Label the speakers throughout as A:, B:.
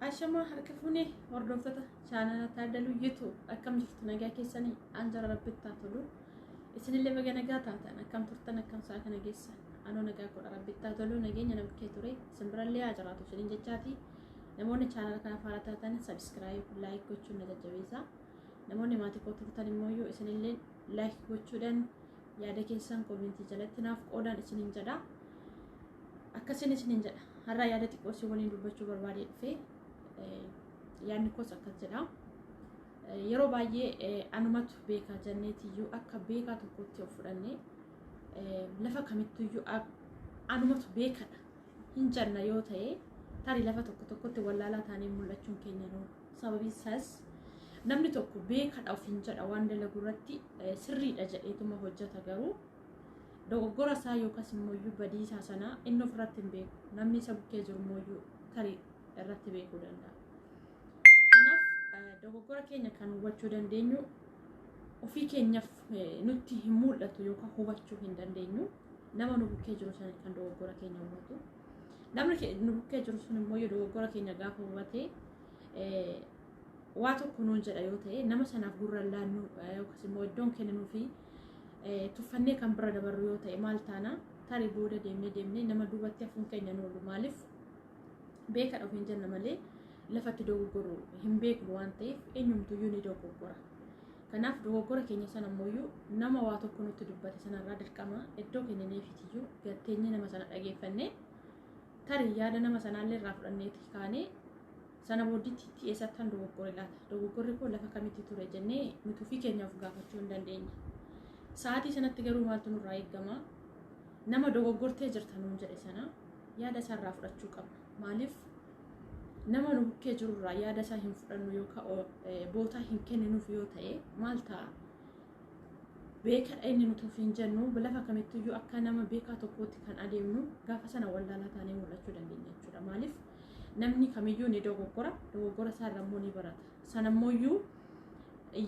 A: Ashamaa harka fuunee hordoftoota chaanala Taaddaluu Yituu akkam jirtu nagaa keessanii an jara rabbittaa tolu isinillee baga nagaa taatan akkam turtan akkam isaa kana geessan anoo nagaa godha rabbittaa tolu nageenya namkee ture isin birallee haa jiraatu isinin jechaati Namoonni chaanala kana faara taatan sabiskiraayib laayik gochuun na jajjabeessa. Namoonni maatii koo turtan immoo yoo isinillee laayik gochuudhaan yaada keessan koomentii jalatti naaf qoodaan isinin jedha. Akkasiin isinin jedha. Har'aa yaada xiqqoo isin waliin dubbachuu barbaadee dhufee yaadni koos akkas jedha. Yeroo baay'ee anumatu beekaa jenneetiyyuu akka beekaa tokkotti of fudhannee lafa kamittuyyuu anumatu beekadha. hin janna yoo ta'e tarii lafa tokko tokkotti wallaalaa taanee mul'achuun keenya nu sababiin isaas namni tokko beekadha ofiin jedha waan dalagu irratti eh, sirriidha jedheetuma hojjeta garuu dogoggora isaa yookaas immoo iyyuu badii isaa sana inni of irratti hin beeku namni isa bukkee jiru immoo iyyuu tarii irratti beekuu danda'a. Kanaaf eh, dogoggora keenya kan hubachuu dandeenyu ofii keenyaaf eh, nutti hin mul'atu yookaan hubachuu hin dandeenyu. nama nu bukkee jiru sana kan dogoggora keenya hubatu namni ke- nu bukkee jiru sun immoo yoo dogoggora keenya gaafa hubate eh, waa tokko nuun jedha yoo ta'e nama sanaaf gurra laannu eh, yookiis immoo iddoon kenninuu fi eh, tuffannee kan bira dabarru yoo ta'e maal taana tarii booda deemnee deemnee nama duubatti hafuun keenya nu oolu maaliif beeka dhabu hin jenna malee lafatti dogoggorru hin beeknu waan ta'eef eenyumtuyyuu ni dogoggora. Kanaaf dogoggora keenya sana immoo nama waa tokko nutti dubbate sanarraa dirqama iddoo kennineefitiyyuu gatteenyee nama sana dhageeffannee tarii yaada nama sanaallee irraa fudhanneeti kaanee sana boodditti itti eessatti kan dogoggore laata dogoggorri koo lafa kamitti ture jennee nuti ofii keenya of gaafachuu hin dandeenye. Sa'aatii sanatti garuu maaltu nurraa eegama nama dogoggortee jirta nuun jedhe sana yaada isaarraa fudhachuu qabna maaliif nama nu bukkee jiru irraa yaada isaa hin fudhannu yookaan bootaa hin kenninuuf yoo ta'e maal ta'a? Beekadha inni nuti ofiin jennu lafa kamittiyyuu akka nama beekaa tokkootti kan adeemnu gaafa sana wallaalaa taanee mul'achuu dandeenya jechuudha. Maaliif namni kamiyyuu ni dogoggora, dogoggora isaa irra immoo ni barata. Sana immoo iyyuu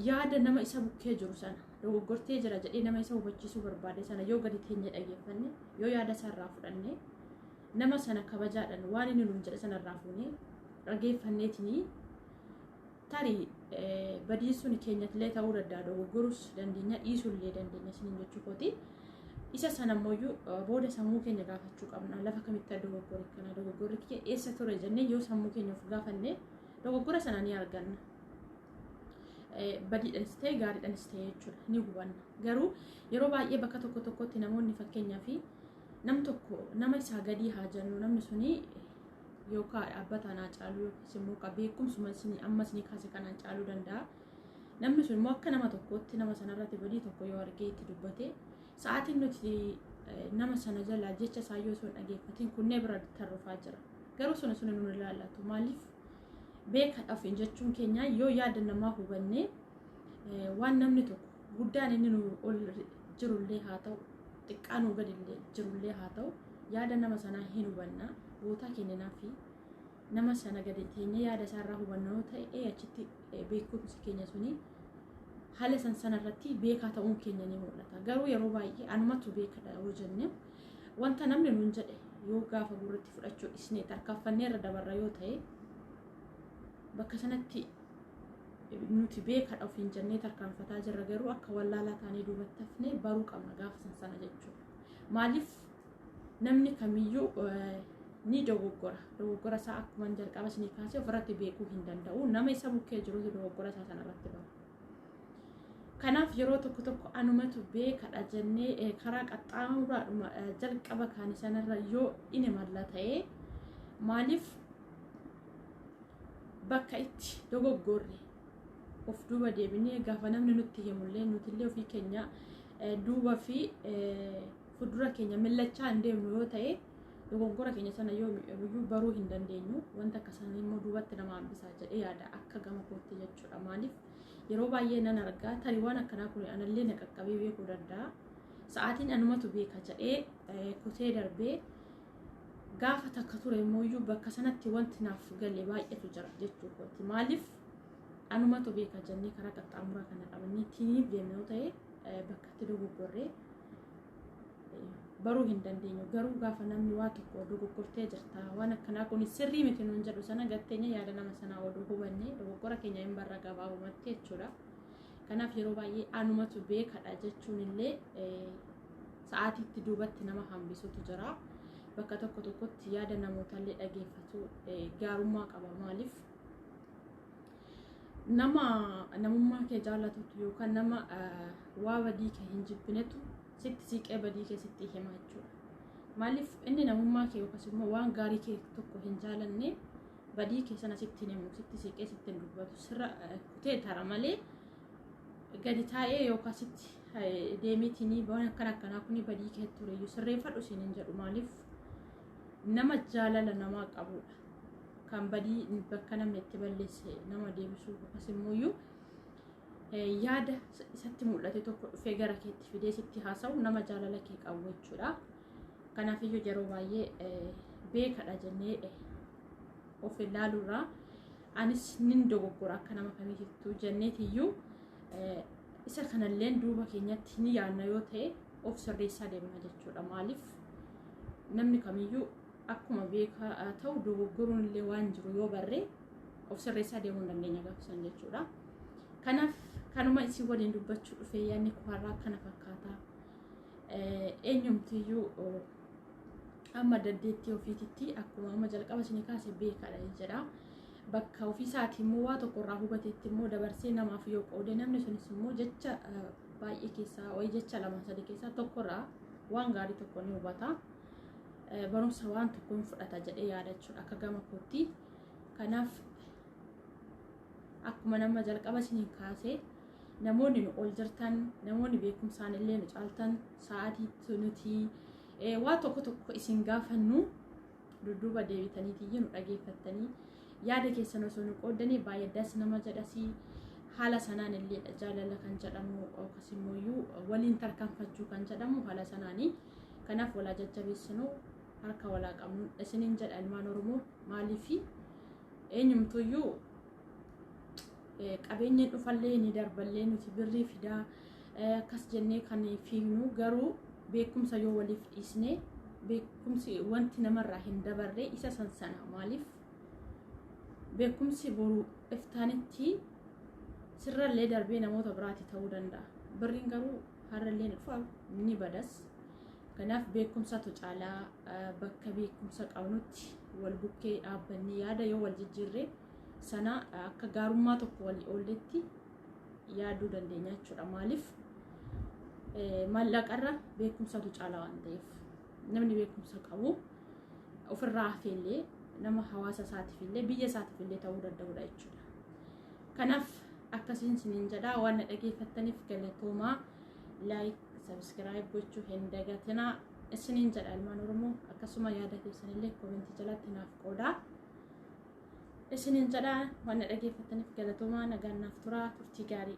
A: yaada nama isa bukkee jiru sana dogoggortee jira jedhee nama isa hubachiisuu barbaade sana yoo gadi teenyee dhaggeeffanne yoo yaada isaa irraa fudhanne nama sana kabajaadhaan waan inni nuun jedhe sana irraa fuunee dhageeffanneetinii tarii badii sun keenyattillee ta'uu danda'a dogoggorus dandeenya dhiisullee dandeenya isiniin jechuu kooti. Isa sana immoo booda sammuu keenya gaafachuu qabna lafa kamitti akka dogoggore kana dogoggorri kee eessa ture jennee yoo sammuu keenya of gaafanne dogoggora sana ni arganna. Badiidhanis ta'e gaariidhanis ta'e jechuudha ni hubanna garuu yeroo baay'ee bakka tokko tokkotti namoonni fakkeenyaa fi nam tokko nama isaa gadii haa jennu namni suni yookaan dhaabbataan haa caaluu yookiis immoo ka beekumsuma isin amma isin kaase kanaan caaluu danda'a. Namni sun immoo akka nama tokkootti nama sanarratti badii tokko yoo argee itti dubbate sa'aatiin nuti nama sana jalaa jecha isaa yoo sun dhageeffatiin kunnee bira tarrufaa jira. Garuu suni suni nu ilaallatu maaliif beeka dhafiin jechuun keenya yoo yaada namaa hubannee waan namni tokko guddaan inni nu ol jirullee haa ta'u xiqqaa nuu gadillee jirullee haa ta'u yaada nama sanaa hin hubanna bootaa kenninaa fi nama sana gadi teenya yaada isaa irraa hubanna yoo ta'e achitti beekumsi keenya suni haala san sana irratti beekaa ta'uun keenya ni mul'ata garuu yeroo baay'ee anumatu beekadha yoo jenne wanta namni nuun jedhe yoo gaafa gurratti fudhachuu dhisnee tarkaanfannee irra dabarra yoo ta'e bakka sanatti nuti beekadha ofiin jennee tarkaanfataa jirra garuu akka wallaalaa taanee duubatti hafnee baruu qabna gaafa san sana jechuudha. Maaliif namni kamiyyuu ni dogoggora. Dogoggora isaa akkuma jalqaba isinii kaasee ofirratti beekuu hin danda'u. Nama isa bukkee jirutu dogoggora isaa sanarratti bara. Kanaaf yeroo tokko tokko anumatu beekadha jennee karaa qaxxaamuraadhuma jalqaba kaane sanarra yoo dhine malla ta'ee maaliif bakka itti dogoggorre of duuba deebinee gaafa namni nutti himullee nutillee ofii keenya eh, duuba fi eh, fuuldura keenya millachaa hin deemnu yoo ta'e dogoggora keenya sana yoo iyyuu baruu hin dandeenyu wanta akka isaanii immoo duubatti nama hambisaa jedhee yaada akka gama kootti jechuudha maaliif yeroo baay'ee nan argaa tarii waan akkanaa kun anallee na qaqqabee beekuu danda'a sa'aatiin anumatu beeka jedhee eh, kutee darbee gaafa takka ture immoo bakka sanatti wanti naaf galee baay'eetu jira jechuu kooti maaliif anumatu beeka jennee karaa qaxxaamuraa kana qabannee tiiniif deemne yoo ta'e bakka itti dogoggorree baruu hin dandeenyu garuu gaafa namni waa tokko dogoggortee jirta waan akkanaa kun sirrii miti nuun jedhu sana gatteenya yaada nama sanaa oduu hubannee dogoggora keenya hin barra gabaabumatti jechuudha kanaaf yeroo baay'ee anumatu beekadha jechuun illee sa'aatiitti duubatti nama hambisutu jira bakka tokko tokkotti yaada namootallee dhageeffatu gaarummaa qaba maaliif nama namummaa kee jaallatutu yookaan nama waa badii kee hin jibbinetu sitti siiqee badii kee sitti hima jechuudha. Maaliif inni namummaa kee yookaas immoo waan gaarii kee tokko hin jaalanne badii kee sana sitti hin himu sitti siiqee sitti hin dubbatu sirra kutee tara malee gadi taa'ee yookaan sitti deemiitiin waan akkana akkanaa kun badii kee ture iyyuu sirreeffadhu siin hin jedhu maaliif nama jaalala namaa qabudha kan badii bakka namni itti balleesse nama deebisuu yookaas immoo iyyuu yaada isatti mul'ate tokko dhufee gara keetti fidee sitti haasa'u nama jaalala kee qabu jechuudha. Kanaafiyyuu yeroo baay'ee beekadha jennee of ilaaluurraa anis nin dogoggora akka nama kamiitittuu jenneetiyyuu isa kanalleen duuba keenyatti ni yaadna yoo ta'e of sirreessaa deemna jechuudha. Maaliif namni kamiyyuu akkuma beekaa ta'u dogoggoruun illee waan jiru yoo barre of sirreessaa deemuu hin dandeenya gaafsan jechuudha. Kanaaf kanuma isin waliin dubbachuu dhufee yaadni kuharraa kana fakkaata. eenyumtiyyuu amma dandeettii ofiititti akkuma amma jalqaba isinii kaase beekaadha jedha. Bakka ofiisaati immoo waa tokko irraa hubateetti immoo dabarsee namaaf yoo qoode namni sunis immoo jecha baay'ee keessaa wayii jecha lama sadii keessaa tokko irraa waan gaarii tokko ni hubata. Barumsa waan tokkoon fudhata jedhee yaadachuudha akka gama kootti. Kanaaf akkuma nama jalqaba isiniin kaasee namoonni nu ol jirtan namoonni beekumsaan illee nu caaltan sa'aatiitti nuti eh, waa tokko tokko isin gaafannu dudduuba deebitaniitii nu dhageeffattanii yaada keessan osoo nu qooddanii baay'ee das nama jedhasii haala sanaan illee jaalala kan jedhamu yookas immoo iyyuu waliin tarkaanfachuu kan jedhamu haala sanaanii kanaaf walaa jajjabeessinuu harka walaa qabnu isiniin jedha ilmaan oromoo maaliifi eenyumtuyyuu qabeenya dhufallee ni darballee nuti birrii fidaa akkas jennee kan fiignu garuu beekumsa yoo waliif dhiisne beekumsi wanti namarraa hin dabarre isa san sana maaliif beekumsi boru iftaanitti sirrallee darbee namoota biraati ta'uu danda'a birriin garuu harrallee ni badas Kanaaf beekumsatu caalaa bakka beekumsa qabnutti wal bukkee dhaabbannee yaada yoo wal jijjiirre sana akka gaarummaa tokko wal oolletti yaaduu dandeenya jechuudha. Maaliif maallaqarra beekumsatu caalaa waan ta'eef namni beekumsa qabu ofirraa hafeellee nama hawaasa isaatiif illee biyya isaatiif illee ta'uu danda'udha jechuudha. Kanaaf akkasiin isiniin jedhaa waan na dhageeffattaniif galatoomaa. like subscribe gochuu hin dagatinaa isiniin jedha ilmaan oromoo akkasuma yaada keessanillee komentii jalatti naaf qoodaa isiniin jedha waan na dhageeffataniif galatoomaa nagaan naaf turaa turtii gaarii